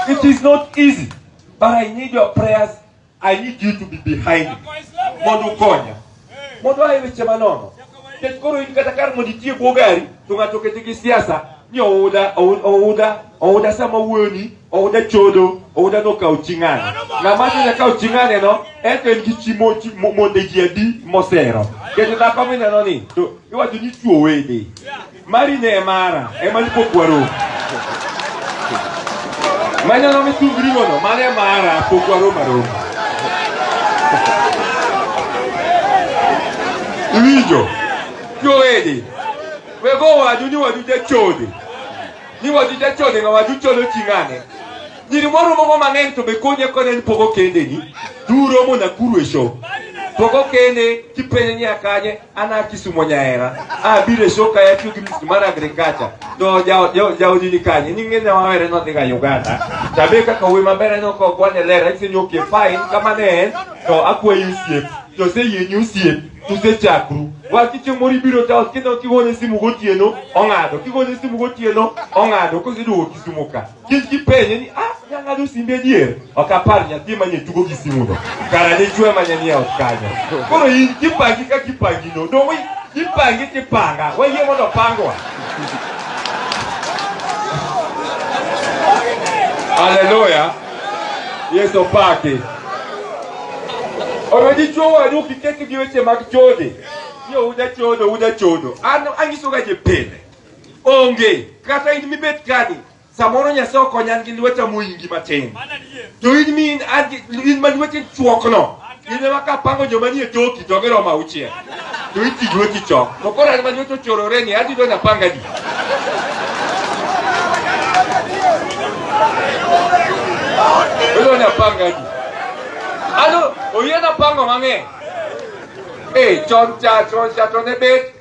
It is not easy, but I need your prayers. I need you to be behind me. Mondo ukonya. Mondo aye weche manono. Nikech koro in kata kar mondo itie bwo gari, to ng'ato okete gi siasa ni ouda ouda ouda sama wuoni ouda chodo ouda nokawo chi ng'ane ng'ama nyonya kawo chi ng'ane no en to en gi chi monde ji adi mosero kendo dhako mineno ni to iwacho ni chuo wede Mari ne mara, ema ni pokwaro. Manya no mitu grimo no, mane mara pokwaro maro. Iwijo, yo edi, wego wadu ni wadu je chode. Ni wadu je chode nga wadu chode chingane. Nyiri moro moko mang'eny to be konye kone ni pogo kende ni, duro mona kuru e show. Pogo kende kipenye ni akanye, an a Kisumo nyahera abiro e show kae atiyo gi music mar agriculture to ja- ja- jaodi ni kanye ni ng'e nyawere nodhiga Uganda to abe kaka wuoyi maber aneno ka ok wane ler anyise ni okay fine kama ne en to akwayi osiep to oseyieni osiep to usechakru wach chicho moro ibiro ta kendo kigone simu gotieno ong'ado kigone simu gotieno ong'ado koseduogo Kisumo ka Kech gipenje ni ah, nyang'ado simbe adier. Ok apar nyathi manye tugo gi simuno. Kara ne chwe manye ni ot kanyo. Koro in kipangi ka kipangi no. Dongo kipangi kipanga. Wayie mondo pangwa. Haleluya. Yesu pake. Owe dichwo wadu kiketo gi weche mag chode. Yo uda chodo, uda chodo. An anyisoga je pile. Onge. Kata in mibet kani, samoro Nyasaye okonya an gi lweta moingi matin. To in mi in ma lweti chuokno, in ema kapango joma nie toki to giromo auchiel. To iti lweti chok. To koro an ma lweti ochorore ni adhi dona panga di. Dona panga di. Ano, oyena pango mang'eny. Eh, chon cha, chon cha to ne bet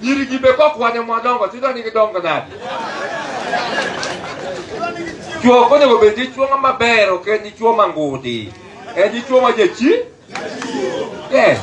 Nyiri gi be kokwane mwadongo tido ni gidongo nade? Chuo ok onego bed dichuo ng'ama ber ok en dichuo mangudi. En dichuo ma jachi? Yes.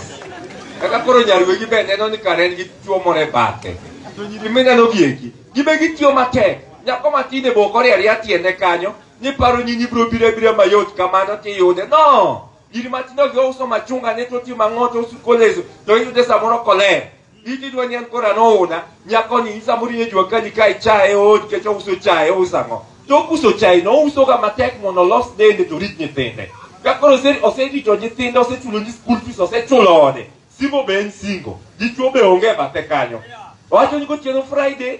Kaka koro nyarwegi be neno ni kare en gi chuo moro e bathe. To nyiri mineno gieki, gibe gitiyo matek. Nyako matin e boko oriere ariya tiende kanyo, ni paro ni nibiro biro abira mayot kamano tiyude. No! Giri matindo gi ouso machunga ne to ti mang'oto usu kolezo to iyude samoro koler. Iti dwa nyan kora nouna nyako ni isa muri ne jwa kani kai chae od ke cho uso chae usa ngo. To uso chae no uso ga matek mono los dende to rit nyithinde. Ka koro se ose dito nyithinde ose chulo ni school fees ose chulo ode. Simo ben singo. Dichwo be onge bathe kanyo. Wacho ni gotieno Friday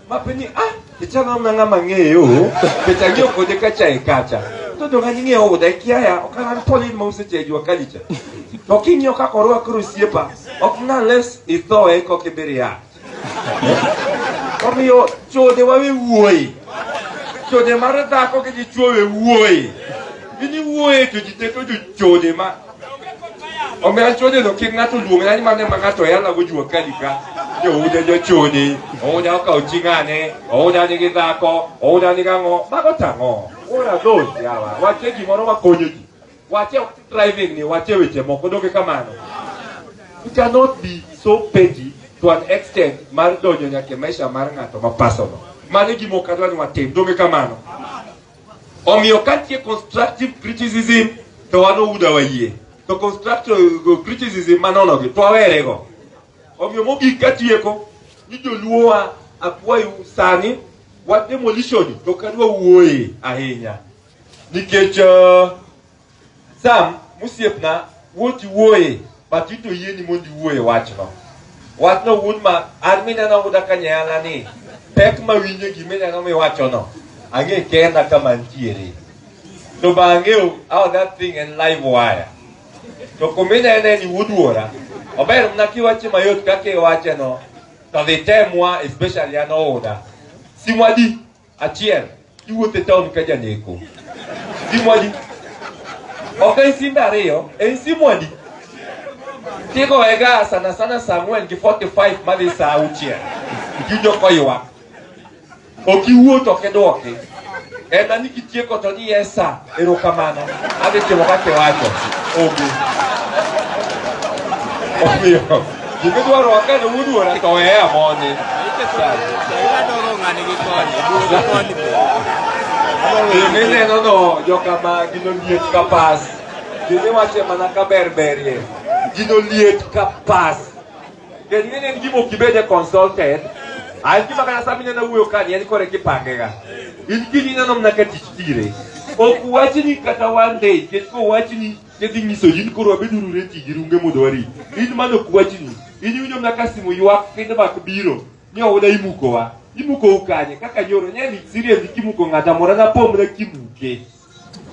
mapenyi ah picha na mna ngama ng'eyo picha ng'eyo kode kacha e kacha to to ngani ng'eyo oda ikia ya okaran polin ma use cheju akalicha to king'eyo kaka orwako rusiepa ok unless ithoe kok ibiri ya omiyo chode wawe wuoyi chode mar dhako gi dichuo we wuoyi gini wuoye to ji te to jochode ma Omiyo achode no kik ng'ato luong na ni mane ma ng'ato yala go jua kalika. Jouda jochode, ouda okawo chi ng'ane, ouda nigi dhako, ouda nigi ang'o, mago tang'o. Ora dhol yawa, wache gimoro makonyo ji. Wache driving ni, wache weche moko, doge kamano. You cannot be so petty to an extent mar donjo nyaka e maisha mar ng'ato ma personal. Mano e gima ok adwa ni watim, doge kamano. Omiyo ka nitie constructive criticism to wan Ouda wayie. To constructive criticism manonogi to wawerego. Omiyo mogik katieko ni joluowa akwayo sani wach demolition to ok adwa wuoye ahinya nikech uh, Sam, mosiepna, wuoti wuoye, but ito yieni mondo iwuoye wachno. Wachno wuon ma an mineno wuda ka nyayana ni pek ma winjo gima ineno miwachono, ang'e kenda kama ntiere. To ba ang'eyo how that thing en live wire. To kuma inene ni wuduora, ober mna kiwache mayot kaka iwacheno, to dhi temwa especially an ouda. Simwa di. Achiel, iwuotho e taon ka janeko. Simwadi. Ok en simb ariyo, en simwadi. Tigoega sana sana saa ang'wen gi 45 madhi saa auchiel. Iwinjo koywak. Ok iwuo to ok idwoki. En ani kitieko to ni yes sir. Erokamano. Adhi timo kaka iwacho. Obi. Omiyo, gima idwaro wakane wuduora to weye amoni. Gima ineno no jokama gino liet ka pas. Gima iwacho mana ka berberie. Gino liet ka pas. Kendo ing'e ni en gima ok ibede consulted. Ah, en gima kata sama ineno wuoyo kani en kore kipangega. In kiny ineno mana ka tich tire. Ok wachni kata one day, nikech kowachni tidhi nyiso ji ni koro wabeduru reti gi runge mondo wari. In mano ok wachni. In iwinjo mana ka simu ywak feedback biro ni oda imukowa. Imukou kanye? Kaka nyoro nyani serious kimuko ng'ata mora napomna kimuke.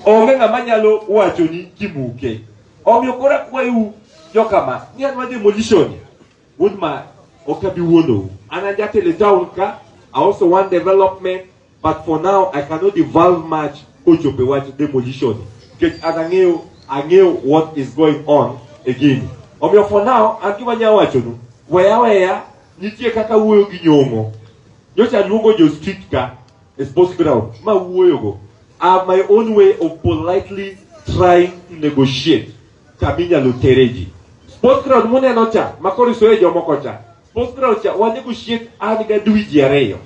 Onge ng'ama nyalo wachoni kimuke. Omiyo koro akwayou jokama, ni an ma demolition wuod ma ok abi wuondou. An ajatelo e town ka, I also want development, but for now I cannot devolve much kochopo e wach demolition. Nikech an ang'eyo, ang'eyo what is going on e gini. Omiyo for now, an gima anyalo wachonu, weya weya, nitie kaka wuoyo gi nyong'o. Nyocha aluongo jo street ka, It's supposed to be now. Ma wuoyo go. I have my own way of politely trying to negotiate. Kaminya lutereji. Sports ground mune no cha. Makori soye jomo ko cha. Sports ground cha. Wa negotiate ani ga dui jiareyo.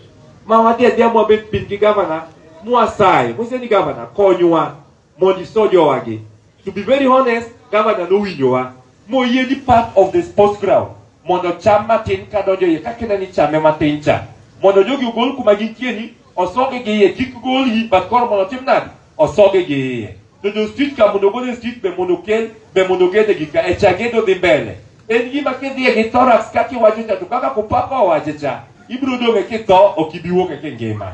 Ma wadi adia mwa bet pin ki governor. Mwa sai. Mwa ni governor. Konywa. mondo iso jowagi. To be very honest, gavana nowinjowa moyie ni part of the sports ground mondo cham matin ka donjo iye kaka ineno ichame matin cha mondo jogi ogol kuma gintie ni osogi gi iye kik golgi but koro mondo otim nadi osogi gi iye to jo street ka mondo ogol e street be mondo okel be mondo ogede gi ka e cha gedo dhi mbele En gima kidhiye gi thorax kaka iwacho cha to kaka kupaka owacho cha ibiro dong' e kitho ok ibi wuok e kingima.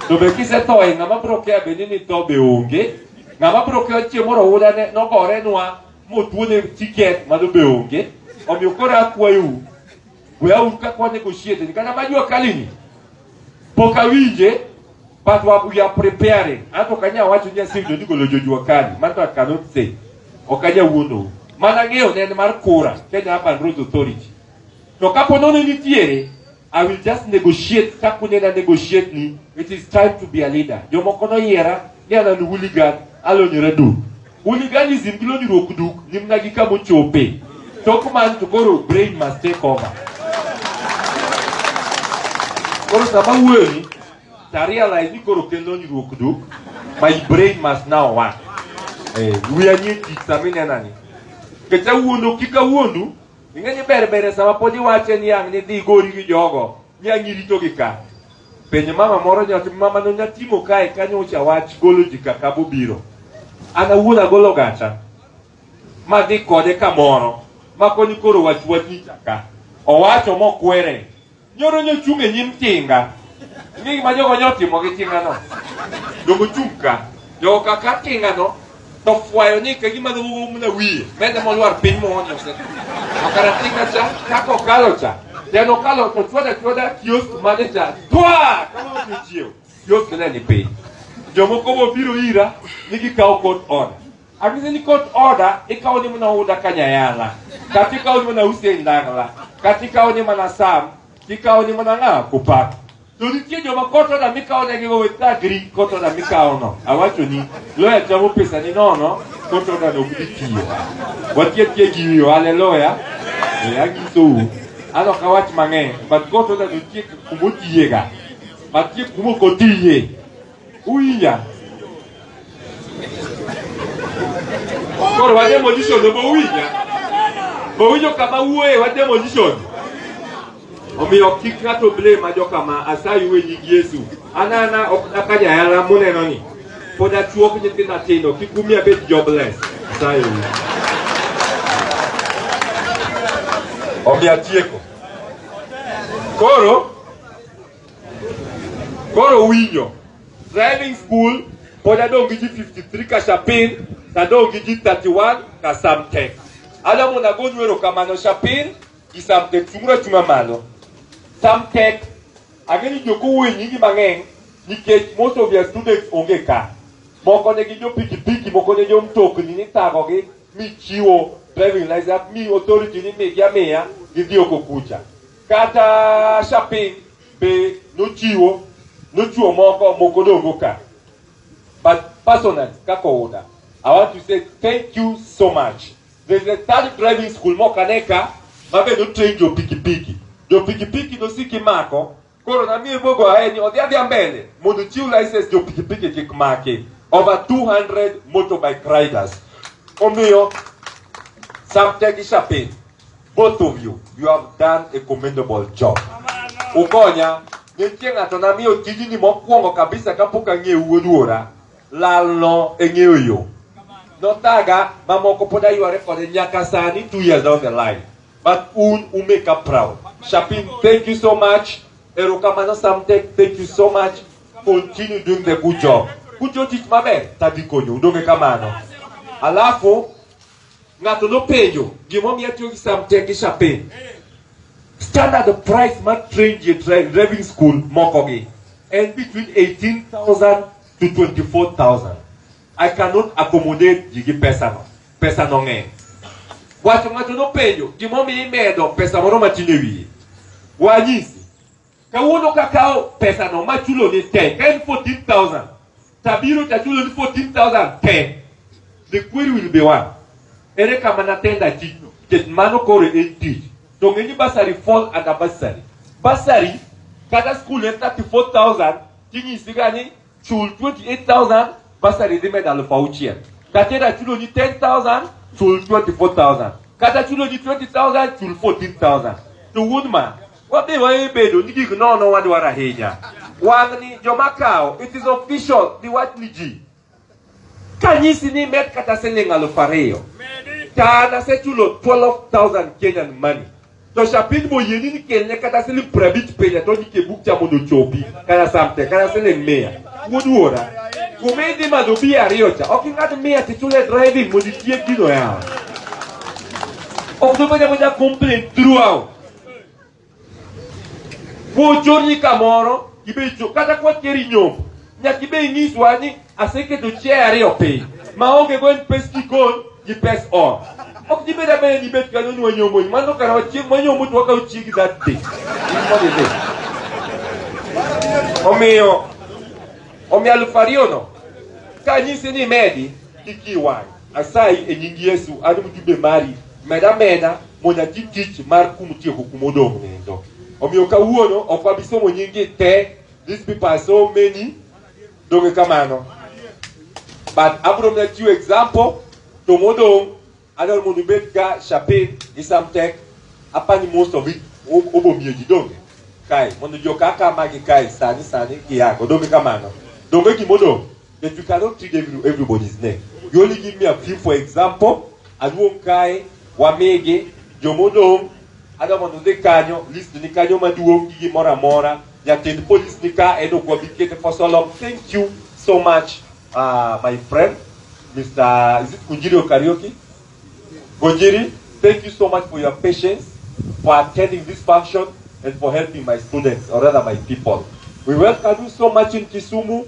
To be kisetho e ng'ama biro kia bende ni tho be onge. Ng'ama biro kia chieng' moro oula ne nogorenwa motuone tiket mano be onge. Omiyo koro akwayou we auru kaka wanego osiepe kata ma jua kalini Pok awinje but we are preparing. Anto ok anyal wacho ni aseyudo ni golo jojua kani. Manto I cannot say. Ok anyal wuonou. Mana ng'eyo ne en mar kura Kenya Urban Roads Authority. To kapo nono nitiere I will just negotiate kaka unena negotiate ni it is time to be a leader. Jomoko noyiera ni an an hooligan alonyora duk. Hooliganism kilo nyruok duk nyimna gi kama ochope. Tok man to koro brain must take over. Koro sama wuoyi to I realize ni koro kelo nyruok duk. My brain must now work. Eh, wiya nie tich sama inena ni. Nikech awuondo kik awuondu. Ing'e ni ber ber sama pod iwache ni ang' ni dhi gori gi jogo. Ni ang' irito gi ka. Penj mama moro nyathi mama no nyatimo kae kanyocha wach golo ji kaka bobiro. An awuon agolo gacha ma dhi kode kamoro ma koni koro wach wach ni chaka. Owacho mokwere. Nyoro nyochung' e nyim tinga. Ng'e gima jogo nyotimo gi tinga no. Jogo chung' ka. Jogo kaka tinga no. To fwayo ni ka gima dho wugo mna wiye, mende molwar piny moonyo se. Akara tika cha, kako kalo cha. Teno kalo to chwada chwada kiosk mane cha. Twa! Kama otu chiew. Kiosk ne ni piny. Jomoko bo biro ira, ni gikawo court order. Akise ni court order, ikawo ni mna uda kanyayala. Kati ikawo ni mna usi ndagla. Kati ikawo ni mna sam. Ikawo ni mna nga kupaka. To nitie joma kotoda mikawo negigo we thagri kotoda mikawono. Awachoni, loya chamo pesani nono, kotoda no ok dhi tiyo. Watie tie gi wiyo, haleluya. Eh, anyisou, an ok awach mang'eny, but kotoda nitie kuma otiyega, nitie kuma ok otiye. Uinya. Koro wa demolition to bouinya. Bouinyo kama wuoye wa demolition. Omiyo kik ng'ato blame ma jokama asayi we nying Yesu. Anana ok daka jayala muneno ni. Pod achuok nyithindo atindo kik umi abed jobless. Asayi we. Omiyo atieko. Koro Koro winyo driving school pod adong' gi ji 53 Kashapin to adong' gi ji 31 Kasamtek. Adamu nagonyu erokamano Shapin gi Samtek chung'uru achung'a malo. Samtek ang'e ni jok owuoyo nyingi mang'eny nikech most of your students onge ka. Moko ne gin jo pikipiki, moko ne jo mtokni nithagogi michiwo driving license mi authority ni migi amiya gidhi oko kucha. Kata shopping be nochiwo, nochiwo moko moko dogo ka. But personally, kaka oda, I want to say thank you so much. There's a third driving school moko ane ka ma be notrain jo pikipiki. Jo pikipiki nosiki mako, koro namiye mogo aye ni odhi adhiya mbele mondo chiw license jo pikipiki kik maki. Over 200 motorbike riders. Omiyo, Samtegi Shopping Both of you, you have done a commendable job. Ukonya, nitie ng'ato namiyo tijni mokwongo kabisa kapok ang'eyo wuod wuora. Lalno e ng'eyo yo. Nothaga mamoko pod ayware kode nyaka sani two years down the line. But un u make up proud. Shapin, thank you so much. Erokamano Samtech, thank you so much. Continue doing the good job. Kucho tich maber, tadhi konyo. Udonge kamano. Alafu, ng'ato nopenjo gimomiyo atiyo gi samte gi chape standard price mar train ji e dri- driving school mokogi en between 18000 to 24000 i cannot accommodate ji gi pesano pesano ng'eny wacho ng'ato nopenjo gimomiyo imedo pesa moro matin e wiye wanyisi Kawuono kakawo pesano machulo ni te, ka en 14,000 tabiro tachulo ni 14,000 te, the query will be one. Ere kama natenda tijno? Nikech mano koro en tich. To ng'e ni basari fall under basari. Basari kata skul en 34,000 tinyisi ga ni chul 28,000 basari dhi medo aluf auchiel. Kata era chulo ni 10,000 chul 24,000. Kata chulo ni 20,000 chul 14,000. To wuod ma Wadhi wabedo ni gik nono wadwaro ahinya. Wang'ni joma kawo, it is official, dhi wach ni ji. Kanyisi ni med kata siling alufu ariyo. To an asechulo 12,000 Kenyan money. To shapin boyieni ni kelne kata siling piero abich pile to nike buk cha mondo ochopi kata samte kata siling mia. Wuduora. Kuma idhi madho bi ariyo cha, ok ing'ad mia tichule driving mondo itiek gino yawa. Ok dobedo moja complain throughout. Kuchorni kamoro ibe kata kwa keri nyombo nyaka ibe inyiswa ni aseketo chiaye ariyo piny maonge go en pes jikon gi pes ot ok dibed abeda ni ibet kanyo ni wanyomboni mano kara wachieng' wanyombo to wakawo chiegi that day omiyo omiyo aluf ariyono kanyisi ni medi kik iwang' Asayi e nying Yesu an mjumbe mari meda meda mondo ati tich mar kum tieko kuma odong' nindo. Omiyo kawuono ok wabi somo nyingi te, these people are so many, donge kamano? But abro mna chiwo example to modong' adwaro mondo ibed ga Shapin gi Samtek apani most of it obomiyo ji donge kae mondo joka kama gi kae sani sani giyango donge kamano donge gimodong' But you cannot treat every, everybody's name. You only give me a few, for example, Aluonkae, Wamege, Jomodong, adwa mondo udhi kanyo, list ni kanyo maduong' gi gimoro amora. Jatend polis ni ka en ok wabi kete for so long. Thank you so much, uh, my friend, Mr. Is it Kunjiri or Karaoke? Kunjiri, thank you so much for your patience, for attending this function, and for helping my students, or rather my people. We welcome you so much in Kisumu.